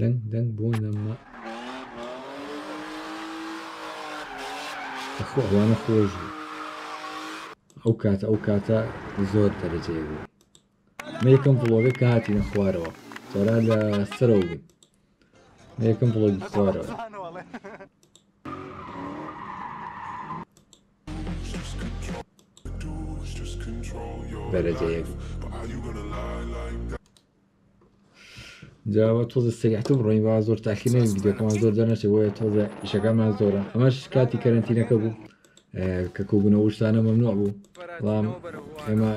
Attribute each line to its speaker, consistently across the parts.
Speaker 1: دەنگ دەنگ بۆ نەما ئەخۆوانە خۆش بوو ئەو کاتە ئەو کاتە زۆر دەرەجەی بوو مە یەکەم بڵۆگە کە هاتیە خوارەوە تۆرا لە سەرەوە بوو مە یەکەم بڵۆگی خوارەوە بەرەجەیەک جاوە تۆزە سریحتە بڕۆین با زۆر تاخیر نەوین ڤیدیۆکەمان زۆر دەنەچێت بۆیە تۆزە ئیشەکەمان زۆرە ئەمەش کاتی کەرنتینەکە بوو کە کوبوونەوە شتانە مەمنوع بوو بەڵام ئێمە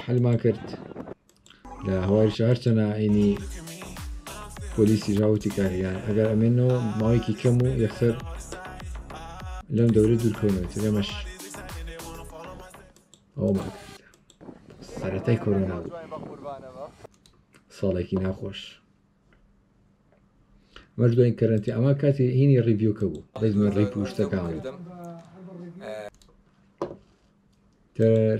Speaker 1: حلمان کرد لە هەوایش هەر چەنە ئاینی پۆلیسی ژاوتی کاریان ئەگەر ئەمێنەوە ماوەیەکی کەم و یەکسەر لەم دەورە دوورکەونەوە تێمەش ئەومان سەرەتای کۆرۆنا بوو ساڵێکی ناخۆش مەش دوای کەرنتی ئەمە کاتی هینی ڕیڤیوکە بوو بەزمە ڕیپ و شتەکان تر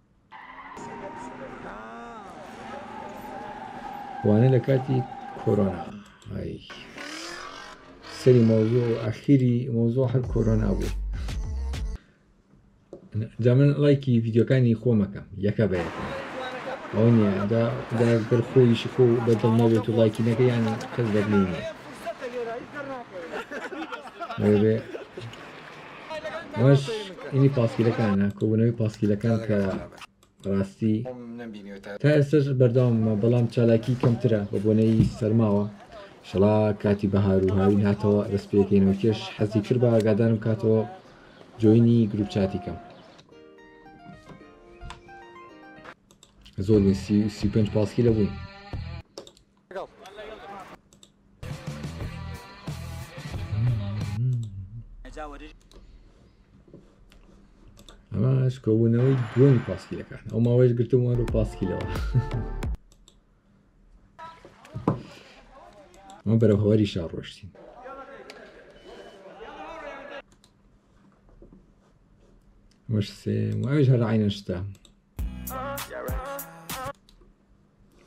Speaker 1: وانە لە کاتی کۆرۆنا سەری مۆزۆ ئەخیری مۆزۆ هەر کۆرۆنا بوو جا من لایکی ڤیددیوکانی خۆمەکەم یەکە بە ئەو نیە داگەر خۆیشی خۆ بەدڵ نەبێت و لایکی نەکە یان کەس بەدلی نیە ئەمەش ئینی پاسکیلەکانە کۆبوونەوەی پاسکیلەکان کە ڕاستی تا ئێستش بەرداومە بەڵام چالاکی کەمترە بە بۆنەی سەرماوە شڵا کاتی بەهار و هاوی هاتەوە دەست پێکەینەوە کێش حەزی کرد بە ئاگادارم کاتەوە جۆینی گروپ چاتی کەم زۆر سی پێنج پاسکی لە بووین ئەماش کۆبوونەوەی دووەمی پاسکیلەکان ئەو ماوەش گرتم وەرە پاسکیلەوە ئەمە بەرە هەوەری شار ڕۆشتین مش سێم ئەوش هەر عینەشتا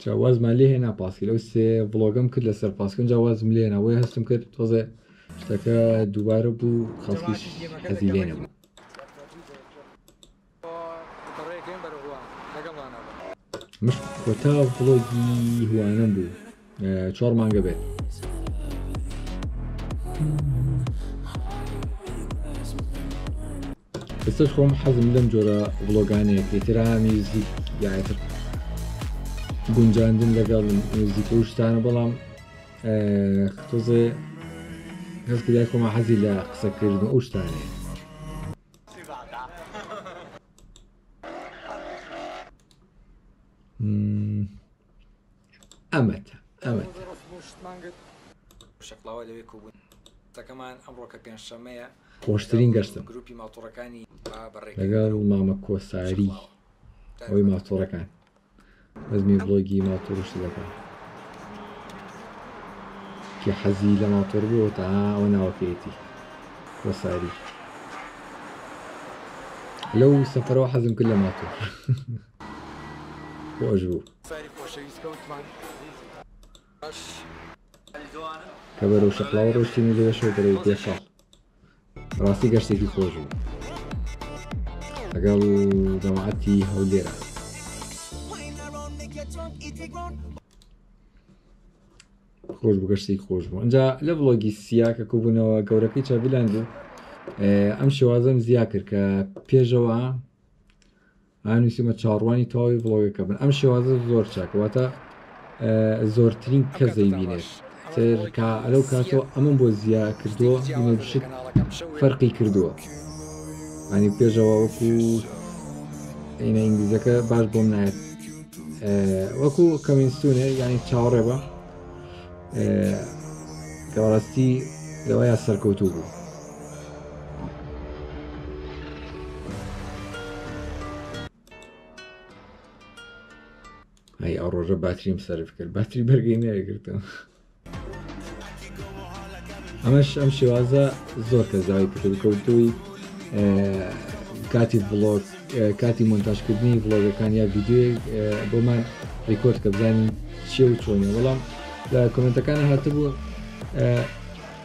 Speaker 1: جا وازمان لێ هێنا پاسکیل ئەو سێ ڤڵۆگەم کرد لەسەر پاسکن جا وازم لێنا وی هەستم کرد تۆزێ شتەکە دووبارە بوو خەڵکیش حەزی لێ نەبوو مش کۆتا ڤڵۆگی هوانم بوو چۆڕ مانگە بێت. ئێستش خۆم حەزم لەم جۆرە بڵۆگانەیە پێترا میوزیک یاتر گونجاندن لەگەڵ میوزیک و شتانە بەڵام تۆزێ هەستکرای خۆمە حەزی لە قسەکردن و شتانێ ئەمەتە ئەمەتە شەقڵاوە لەوێ کۆبوون تەکەمان ئەمڕۆکە پێنجشەمەیە خۆشترین گەشتم گروپی ماتۆڕەکانی لەگەڵ مامە کۆساری ئەوی ماتۆڕەکان بەزمی بڵۆگی ماتۆڕش دەکەم کە حەزی لە ماتۆر بووە تا ئەوە ناوەکەیەتی کۆساری لەو سەفەرەوە حەزم کرد لە ماتۆر خۆش بوو ساری خۆشەویست کەوتمان باش علی جوانم کە بەرەو شەقڵاوە ڕۆشتین و لێرەشەوە بەرەو پێ شەق ڕاستی گەشتێکی خۆش بوو لەگەڵ جەماعەتی هەولێرە خۆش بگەشتی خۆش بوو ئەجا لە بڵۆگی سیا کە کوبوونەوە گەورەکەی چاڤلاند و ئەم شێوازم زیا کرد کە پێشەوە ها نووسیمە چاڕوانی تەواوی بڵۆگەکە بن ئەم شێوازە زۆر چاکە واتە زۆرترین کە زەیبینێت سێرکە ئەلو کاتۆ ئەمن بۆ زییا کردووە شت فەرقی کردووە ئەنی پێشەوە وەکو عینە ئینگلیزەکە باش بۆم نایێت وەکو کەمینستونێ ینی چاوەڕێ بە کەڕاستی لەوەیە سەرکەوتوو بوو ئەی ئەو ڕۆژە باتریم سرف کرد باتری بەرگی نەگرتم ئەمەش ئەم شێوازە زۆر کە زاوی پتر کەوتوی کاتی بڵۆت کاتی مۆنتاژکردنی بڵۆگەکان یا ویددیوی بۆمان ریکۆرد کە بزانین چێ و چۆنی وەڵام لە کۆمنتەکانی هاتبوو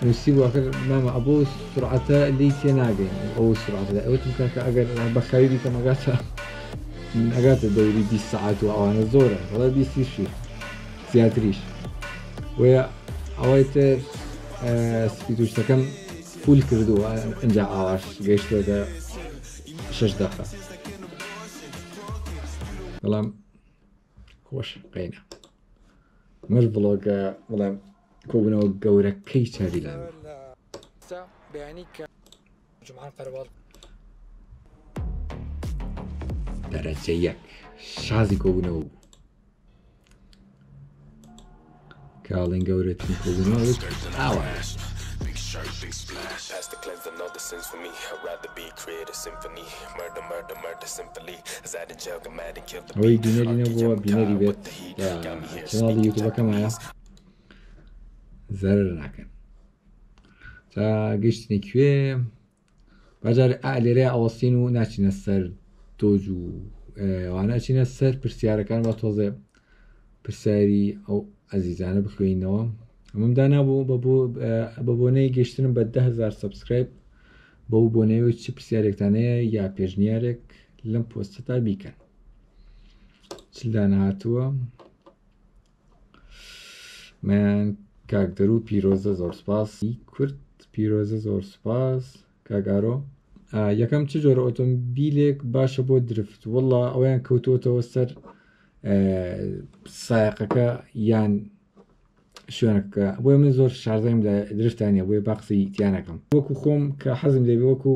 Speaker 1: نوسیبوو ئەخر مامە ئەبۆ سرعەتە لێی تێ ناگەین ئەو سرعەتە دای ئەوتم کاکە ئەگەر بەخاوی بیکەم ئەگاتە ئەگاتە دەوری 20 سعات و ئەوانە زۆرە وڵا بیسیشی زیاتریش وە ئەوەی تر سپیدوشتەکەم فول کردووە ئەجا ئاواش گەشتێتە شش دەقە بەڵام خۆش بقینە مەش بڵۆگە بڵێم کۆبنەوە گەورەکەی چاویلان بەیانی کە جمعان پەرواڵ دەرەجە یەک شازی کۆبوونەوە بوو کاڵین گەورەترین کردنەوەت ئاوا ئەوەی بینەری نەبووە بینەری بێت چناڵی یوتوبەکەمایە زەرر ناکەن تا گەشتنی کوێ بەجار لێرە ئەوەستین و ناچینە سەر تۆج و واناچینە سەر پرسیارەکان بە تۆزێ پرسیاری ئەو ئەزیزانە بخوێینەوە ئەمەم دانابوو بە بۆنەی گەشتنم بە دههزار سبسکرایب بەو بۆنەوە چ پرسیارێکتانەیە یا پێشنیارێک لەم پۆستتا بیکەن چلدانهاتووە من کاک دەرو پیرۆزە زۆر سپاس کورد پیرۆزە زۆر سپاس کاگارۆ یەکەم چ جۆرە ئۆتۆمبیلێک باشە بۆ درفت وڵا ئەویان کەوتوتەوە سەر سایقەکە یان شوێنەکە بۆی من زۆر شارزەیم لە درفتانە بۆی باقسی تیانەکەم وەکو خۆم کە حەزم لێ وەکو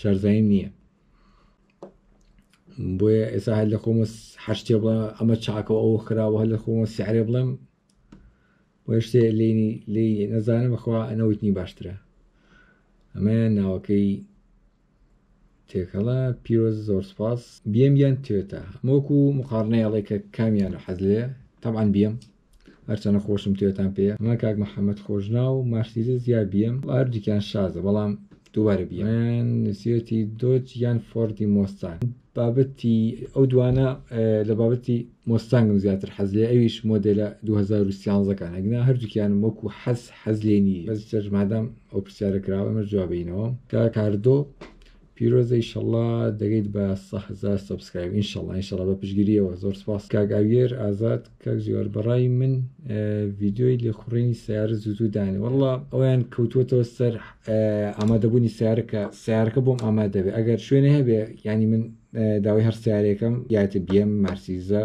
Speaker 1: شارزایی نییە بۆیە ئێستا هەر لە خۆمە حشتێ بڵێ ئەمە چاکە ئەو خراوە هەر لە خۆمە سیعرێ بڵێم بۆ شتێ لینی لی نەزانم بەخوا ئەنەوتنی باشترە ئەمە ناوەکەی تێکەڵە پیرۆز زۆر سپاس بێم یان توێتە مۆکو مقارنەیەڵێ کە کامیان حەز لێ تەعاان بێم هەرچەنە خۆشم تێتان پێیە ئەمە کاک محمد خۆشناو مارسیدس یا بی ئێم وە هەردووکیان شازە بەڵام دووبارە بی ئێم یان نوسیوەتی دۆج یان فۆردی مۆستان بابەتی ئەو دوانە لە بابەتی مۆستانگم زیاتر حەز لێ ئەویش مۆدێلە 2013 کان ئەگنا هەردووکیانم وەکو حەز حەز لێ نیە بەس جەرمادام ئەو پرسیارە کراوە ئەمە جوابینەوە کە کاردۆ پیرۆزە ئیشەڵا دەگەیت بە سە هەزار سەبسکرایب ئینشەڵا ئینشەڵا بە پشگیریەوە زۆر سپاس کاک ئاگر ئازاد کاک جیوار بەڕای من ڤیدیۆی لێخوڕینی سیارە زوزو دانێ وەڵا ئەویان کەوتوەتەوە سەر ئامادەبوونی سیارەکە سیارەکە بۆم ئامادەبێ ئەگەر شوێنێ هەبێ ینی من داوای هەر سیارێکم یاتی بیم مارسیزە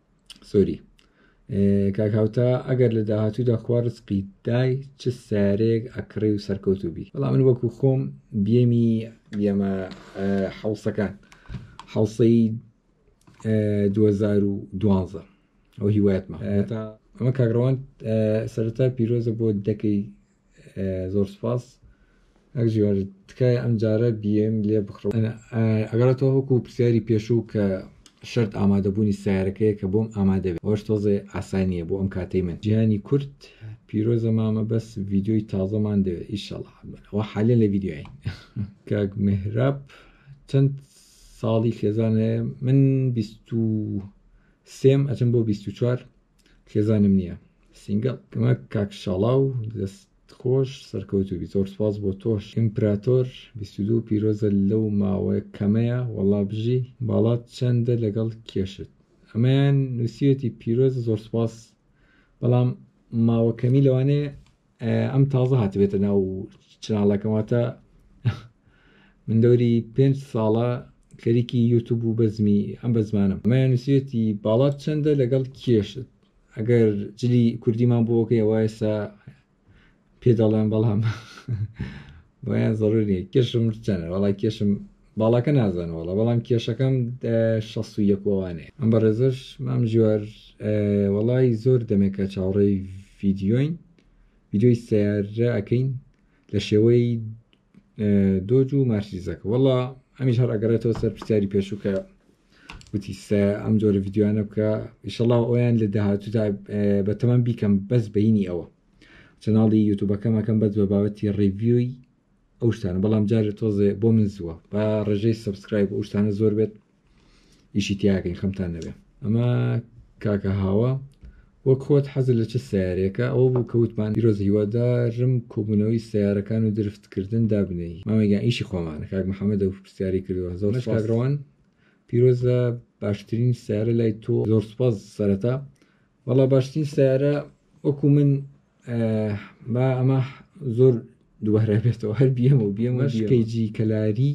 Speaker 1: سۆری کاک هاوتا ئەگەر لە داهاتوودا خوا ڕسقی دای چ سارێک ئەکڕی و سەرکەوت و بی بەڵا من وەکو خۆم بێمی بێمە حوسەکان حوسەی 2012 ئەو هیوایەتمە ئەمە کاگڕوان سەرتا پیرۆزە بۆ دەکەی زۆر سپاس ئەک جیوار تکایە ئەم جارە بیێم لێ بخڕ ئەگەڕ تۆ وەکو پرسیاری پێشوو کە شرت ئامادەبوونی سیارەکەیە کە بۆم ئامادە بێت ئەوش تۆزێ ئاسانیە بۆ ئەم کاتەی من جیهانی کورد پیرۆزە مامە بەس ڤیددیۆی تازەمان دەوێت ئیشەڵا ئەوە حالە لە ڤیددیۆین کاک مهراب چەند ساڵی خێزانەیە من بیست و سێم ئەچم بۆ بیست و چوار خێزانم نییە سینگەڵ کەمە کاک شاڵاو دەست خۆش سەرکەوتو بی زۆر سپاس بۆ تۆش ئیمپراتۆر بیستدو پیرۆزە لەو ماوە کەمەیە وەڵا بژی باڵات چەندە لەگەڵ کێشت ئەمەیان نووسیەتی پیرۆزە زۆر سپاس بەڵام ماوە کەمی لەوانەیە ئەم تازە هاتبێتە ناو چناڵەکەم واتە من دەوری پێنج ساڵە خەریکی یوتوب و بەزمی ئەم بە زمانم ئەمەیان نووسێتی باڵات چەندە لەگەڵ کێشت ئەگەر جلی کوردیمان بۆکەی ئەوە ئێستا پێ دەڵێن بەڵام بۆیان زەڕوور نیە کێشم چەنە وەڵا کێشم باڵاکە نازانم وەڵا بەڵام کێشەکەم شەست و یەکوانێ ئەم بە ڕێزش مام جوار وەڵی زۆر دەمێکە چاوەڕێی ڤیددیۆین ڤیددیۆی سیارە ئەەکەین لە شێوەی دۆج و مارسیزەکە وەڵا ئەمیش هەر ئەگەڕێتەوە سەر پرسیاری پێشووکە وتی ئەم جۆرە ڤیددیوانە بکە ئیشەڵا ئەویان لە داهاتوودا بە تەمان بیکەم بەس بینی ئەوە چەناڵی یوتوبەکەم ئەکەم بەس بە بابەتی ڕیڤیوی ئەو شتانە بەڵام جارێ تۆزێ بۆ من زووە با ڕێژەی سبسکرایب ئەو شتانە زۆر بێت ئیشی تیاکەین خەمتان نەبێ ئەمە کاکە هاوە وەک خۆت حەزر لە چ سیارێکە ئەوە بوو کەوتمان پیرۆز هیوادارم کۆبوونەوەی سیارەکان و درفتکردن دابنەی مامەگەیان ئیشی خۆمانە کاک محەممەد و پرسیاری کردوە زۆر کاگڕوان پیرۆزە باشترین سیارە لای تۆ زۆر سپاس سەرەتا وەڵا باشترین سیارە وەکو من با ئەمە زۆر دووارە بێتەوە هەر بیەمە و بیەمە شکەیجی کەلاری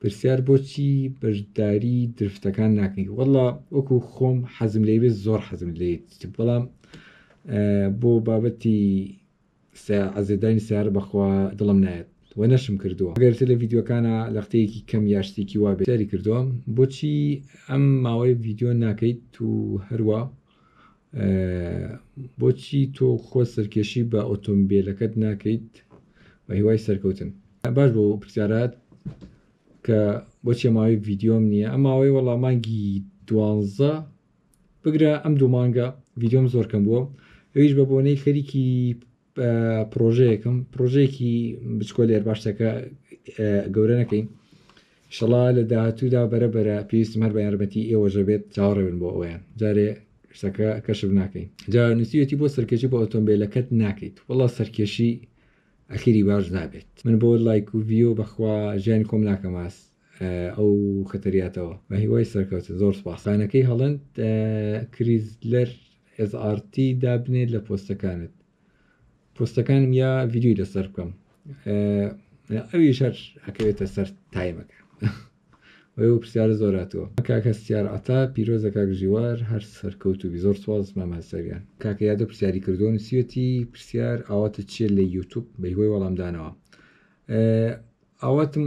Speaker 1: پرسیار بۆچی بەشداری درفتەکان ناکەی وەڵا وەکو خۆم حەزم لێ بێت زۆر حەزم لێت بەڵام بۆ بابەتی سە عزێت داینی سەیارە بەخوا دڵم نایەت وە نەشم کردووە گەر تە لە ڤیدیۆکانە لەختەیەکی کەم یا شتێکی وا بێت سەیری کردووە بۆچی ئەم ماوەی ڤیدیۆ ناکەیت تو هەروا بۆچی تۆ خۆ سەرکێشی بە ئۆتۆمبیلەکەت ناکەیت بە هیوای سەرکەوتن باش بۆ پرسیارات کە بۆچێ ماوەی ڤیددیۆم نییە ئەم ماوەی وەڵامانگی دوانزە بگرە ئەم دوو مانگە ڤیدۆم زۆر کەم بووە ئەویش بە بۆنەی خەریکی پرۆژەیەکم پرۆژەیەکی بچکۆ لێر باشتەکە گەورە نەکەین شڵا لە داهاتوودا بەرە بەرە پێویستم هەر بە یارمەتی ئێوەژە بێت چاوەڕێبن بۆ ئەویان جارێ شتەکە کەشف ناکەین جا نووسیەتی بۆ سەرکێشی بۆ ئۆتۆمبیلەکەت ناکەیت وڵا سەرکێشی ئەخیری باش نابێت من بۆ لایک و ڤیۆ بەخوا ژیانی کۆم ناکەماس ئەو خەتەریاتەوە بەهیوای سەرکەوتن زۆر سوپاس خانەکەی هەڵند کریزلەر SRT دابنێت لە پۆستەکانت پۆستەکانم یا ڤیددیوی لەسەر بکەم ئەوی شەر ئەکەوێتە سەر تایمەکە ئەو پرسیارە زۆر هاتووە کاکە سیار عتا پیرۆزە کاک ژیوار هەر سەرکەوت و زۆر سواز مامەسەریان کاکە یادە پرسیاری کردووە نووسەتی پرسیار ئاواتە چیە لە یوتوب بە هۆی وەڵامدانەوە ئاواتم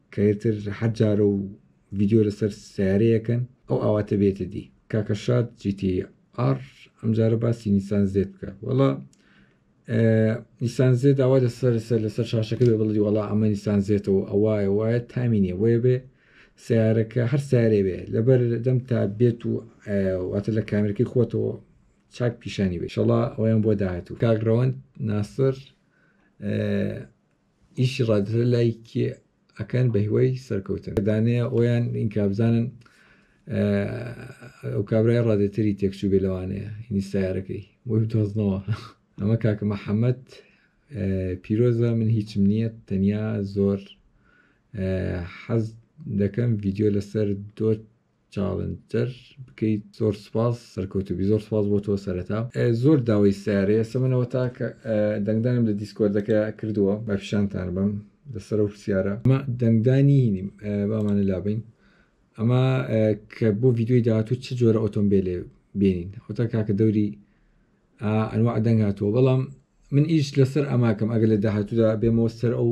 Speaker 1: کە ئیتر حەد جارە و ڤیدیۆ لەسەر سیارەیەکەن ئەو ئاواتە بێتە دی کاکە شاد جیتی ئار ئەمجارە باسی نیسان زێت بکە وەڵا نیسان زێت داوا لەسەر سەر لەسەر شاشەکە بێ بڵی وەڵا ئەمە نیسان زێتەوە ئەوایە وایە تامینێ وەیە بێ سیارەکە هەر سارێ بێ لەبەر دەم تا بێت و واتە لە کامرەکەی خۆتەوە چاک پیشانی بێ شڵا ئەویان بۆ داهاتوو کاگرەوەند ناسر ئیشی ڕادەرە لای کێ ئەکەن بە هیوای سەرکەوتن دانەیە ئۆیان ئینکا بزانن ئەو کابرای ڕادێتەری تێکچوو بێ لەوانەیە هینی سیارەکەی بۆی دۆزنەوە ئەمە کاکە محەممەد پیرۆزە من هیچم نییە تەنیا زۆر حەز دەکەم ڤیددیو لەسەر دۆت چاڵنتر بکەیت زۆر سپاس سەرکەوتوبی زۆر سپاس بۆ تۆ سەرەتا زۆر داوای سارەیە سەمنەوە تاکە دەنگدانم لە دیسکۆردەکە کردووە بە پیشانتان بم لەسەر و پرسیارە ئەمە دەنگدانی نیم بامانە لابین ئەمە کە بۆ ڤیددیوی داهاتوو چ جۆرە ئۆتۆمبیلێ بینین ئەوتا کاکە دەوری ئەنوا دەنگاتەوە بەڵام من ئیش لەسەر ئەماکەم ئەگەر لە داهاتوودا بێمەوە سەر ئەو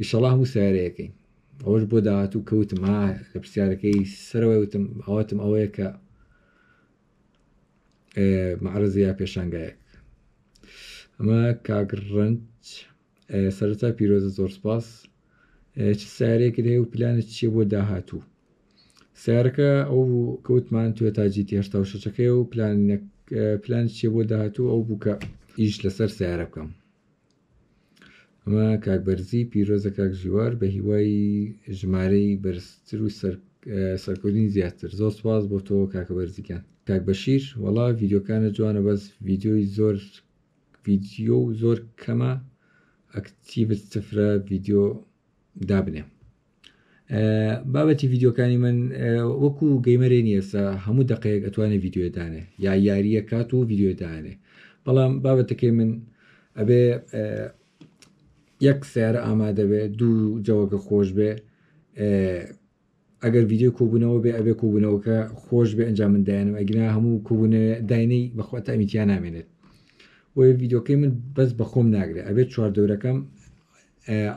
Speaker 1: ئیشەڵا هەموو سیارەیەکەی ئەوەش بۆ داهاتوو کەوتم ها لە پرسیارەکەی سەرەوەی وتم ئاواتم ئەوەیە کە معرزە یا پێشانگایەک ئەمە کاگڕنج سەرتا پیرۆزە زۆر سپاس چ سارێکت هەیە و پلانت چیە بۆ داهاتوو سارەکە ئەو کەوتمان توێ تاجی هێشتا و شەچەکەی و پلان پلان چیە بۆ داهاتوو ئەو بووکە ئیش لەسەر سارە بکەم ئەمە کاک بەرزی پیرۆزە کاک ژیوار بە هیوای ژمارەی بەرزتر و سەرکردنی زیاتر زۆر سواز بۆ تۆ کاکە بەرزیکان کاک بەشیر وەڵا ڤیددیوکانە جوانە بەس ڤیددیۆی زۆر ڤیددیو و زۆر کەمە ئەکتیڤت سفرە ڤیددیو دابنێ بابەتی ڤیددیوکانی من وەکو گەیمەرێ نیەسا هەموو دقەیەک ئەتوانێت ڤیددیوێدانێ یا یاریە کات و ڤیددیوێدانێ بەڵام بابەتەکەی من ئەبێ یەک سیارە ئامادەبێ دوو جەوەکە خۆش بێ ئەگەر ڤیددیو کۆبوونەوە بێ ئەبێ کۆبوونەوەکە خۆش بێ ئەنجام من دایانم ئەگرنا هەموو کۆبوونە داینەی بەخواتە ئەمیتیان نامێنێت بۆیە ڤیددیوکەی من بەس بەخۆم ناگرێت ئەبێت چواردەورەکەم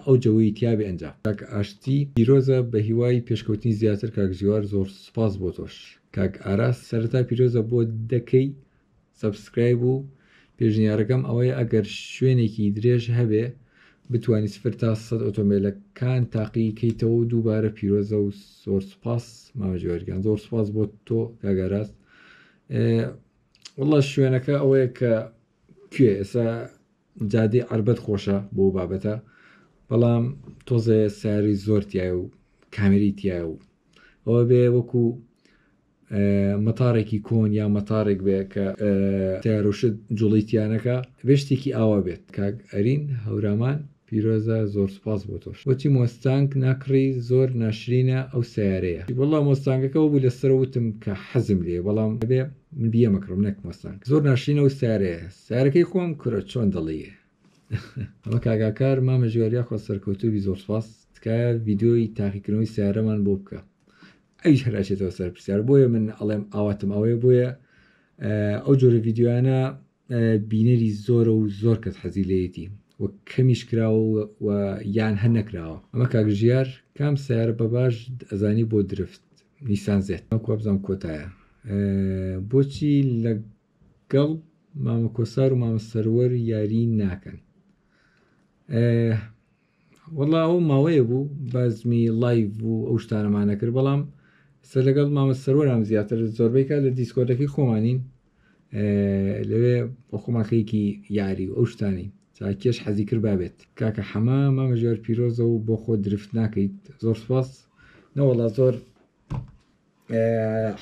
Speaker 1: ئەو جەوەی تیابێ ئەنجام. کاک ئاشتی پیرۆزە بەهیوای پێشکەوتنی زیاتر کاک ژیوار زۆر سوپاس بۆ تۆش کاک ئاراس سەرەتا پیرۆزە بۆ دەکەی سەبسکرایب و پێشنیارەکەم ئەوەیە ئەگەر شوێنێکی درێژ هەبێ بتوانی سفر تا سەد ئۆتۆمبێلەکان تاقی کەیتەوە و دووبارە پیرۆزە و زۆر سوپاس مامە ژیوارگیان زۆر سوپاس بۆ تۆ کاک ئاراس واللە شوێنەکە ئەوەیە کە کوێ ئێستا جادەی عەربەت خۆشە بۆ بابەتە بەڵام تۆزێ ساری زۆر تایە و کامری تایە و ئەوە بێ وەکو مەتارێکی کۆن یا مەتارێک بێ کە تارۆشت جوڵیتیانەکە بێشتێکی ئاوا بێت کاک ئەرین هەورامان پیرۆزە زۆر سپاس بۆ تۆش وەچی مۆستانک ناکڕی زۆر ناشرینە ئەو سیارەیە وڵا مۆستانگەکەەوە بوو لەسەر وتم کە حەزم لێ بەڵام بێ من بیە مەکڕم نەک مۆستانک زۆر ناشرینە و سیارەیە سارەکەی خۆم کورە چۆن دەڵێی ئەمە کاگاکار مامە ژێر یاخوا سەرکەوتوبی زۆر سپاس تکایە ڤیددیۆی تاقیکردنەوەی سیارەمان بۆ بکە ئەویش هەراچێتەوە سەر پرسیار بۆیە من ئەڵێم ئاواتم ئەوەیە بۆیە ئەو جۆرە ڤیددیوانە بینەری زۆرە و زۆر کەس حەزی لەیەتی و کەمیش کراوە و یان هەر نەکراوە ئەمە کاگژیار کام سیارە بە باش ئەزانی بۆ درفت نیسان زێت ئەو کۆبزان کۆتایە بۆچی لە گەڵ مامە کۆسار و مامە سەروەر یاری ناکەن وەڵا ئەو ماوەیە بوو بازمی لایڤ بوو ئەو شتانەمانە کرد بەڵام سە لەگەڵ مامە سەروەرام زیاتر زۆربەی کات لە دیسکۆتەکەی خۆمانین لەوێ بۆ خۆماخەیەکی یاری و ئەو شتانی کێش حەزی کرد بابێت کاکە حەمە مامە ژێر پیرۆزە و بۆ خۆ درفت ناکەیت زۆر سپاس نەوەڵا زۆر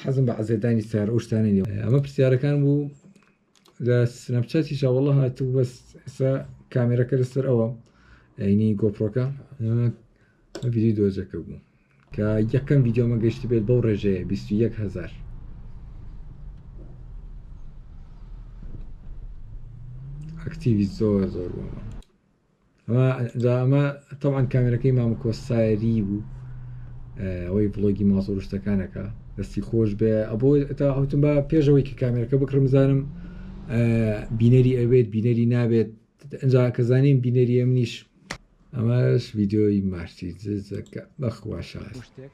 Speaker 1: حەزم بە عزێدانی سار ئەو شتانە نیە ئەمە پرسیارەکان بوو لە سنەپچاتی شاوەڵە هاتوو بەس ئێستا کامێرەکە لەسەر ئەوە ئەینی گۆپڕۆکە ویدی دۆزەکە بوو کە یەکەم ویددیۆمە گەشت بێت بەو ڕێژەیە 21هزار ئەکتیوی زۆر زۆر بوومە ئەمە جا ئەمە تەوان کامێرەکەی مامە کۆساری بوو ئەوەی ڤڵۆگی ماسۆڕشتەکانەکە دەستی خۆش بێ ئەبۆ تا ئەوتم بە پێشەوەی کە کامێرەکە بکڕم زانم بینەری ئەوێت بینەری نابێت ئەجا کە زانیم بینەری ئەمنیش ئەمەش ویددیۆی مارسی زەکە بەخواشە شتێک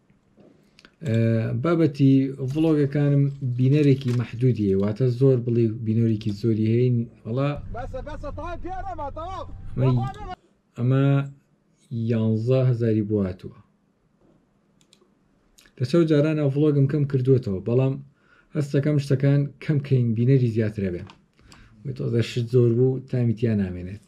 Speaker 1: بابەتی ڤڵۆگەکانم بینەرێکی مەحدودی واتە زۆر بڵی بینەرێکی زۆری هەین وڵا ئەمە یانزە هزاری بواتوە لەسەر جارانە ڤڵۆگم کەم کردوێتەوە بەڵام هەستەکەم شتەکان کەم کەین بینەری زیاترە بێن تۆزە شت زۆر بوو تامیتیان نامێنێت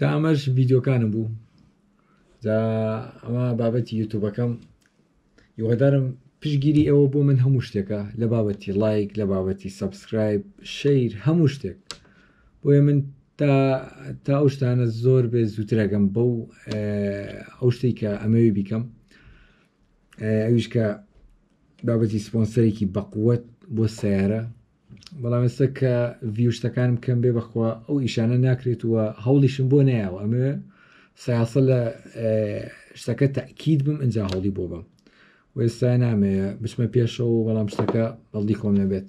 Speaker 1: جا ئەمەش ڤیددیوکانم بوو جا ئەمە بابەتی یوتوبەکەم یوهدارم پشگیری ئەوە بۆ من هەموو شتێکە لە بابەتی لایک لە بابەتی سبسکرایب شیر هەموو شتێک بۆیە من تا تا ئەو شتانە زۆر بێ زووترەگەم بەو ئەو شتی کە ئەمەوی بیکەم ئەویش کە بابەتی سپۆنسەرێکی بەقوت بۆ سیارە بەڵام ئێستا کە ڤیوشتەکانم کەم بێ بەخوا ئەو ئیشانە ناکرێت وە هەوڵیشم بۆ نایەوە ئەمە سیاسە لە شتەکە تاکیید بم ئەجا هەوڵی بۆ بم وێستا نامەیە بچمە پێشەوە بەڵام شتەکە بەڵدی خۆم نەبێت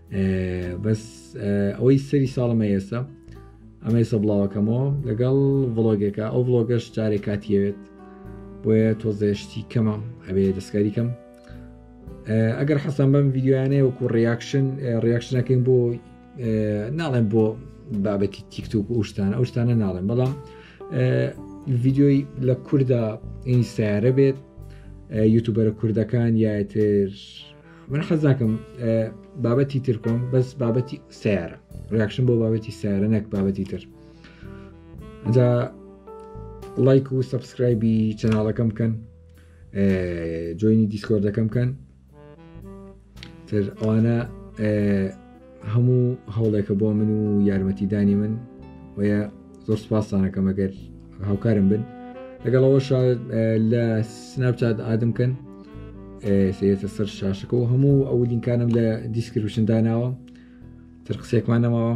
Speaker 1: بەس ئەوەی سەری ساڵمە ئێستا ئەمە ئێستا بڵاوەکەمەوە لەگەڵ ڤڵۆگێکە ئەو ڤڵۆگەش جارێ کاتیەوێت بۆیە تۆزێشتی کەمە ئەبێ دەستکاری کەم ئەگەر حەسان بەم ڤیددیوانەیە وەکو ڕیاکشن ڕیاکشنەکەین بۆ ناڵێن بۆ بابەتی تیکتوک و شتانە ئەو شتانە ناڵێن بەڵام ڤیددیۆی لە کووردا ئینی سیارە بێت یوتوبەرە کوردەکان یاتر من حەزاکەم بابەتی تر کۆم بەس بابەتی سیارە ڕاکشن بۆ بابەتی سیارە نەک بابەتی تر جا لایک و سبسکرایبی چەناڵەکەم بکەن جوینی دیسکۆردەکەم بکەن تر ئەوانە هەموو هەوڵێکە بۆ من و یارمەتیدانی من وەیە زۆر سپاسانەکەم ئەگەر هاوکارم بن لەگەڵەوە لە سناپچات ئادم کەن سێتە سەر شاشەکە و هەموو ئەو لینکانم لە دیسکرپشن داناوە تر قسێکمان نەماوە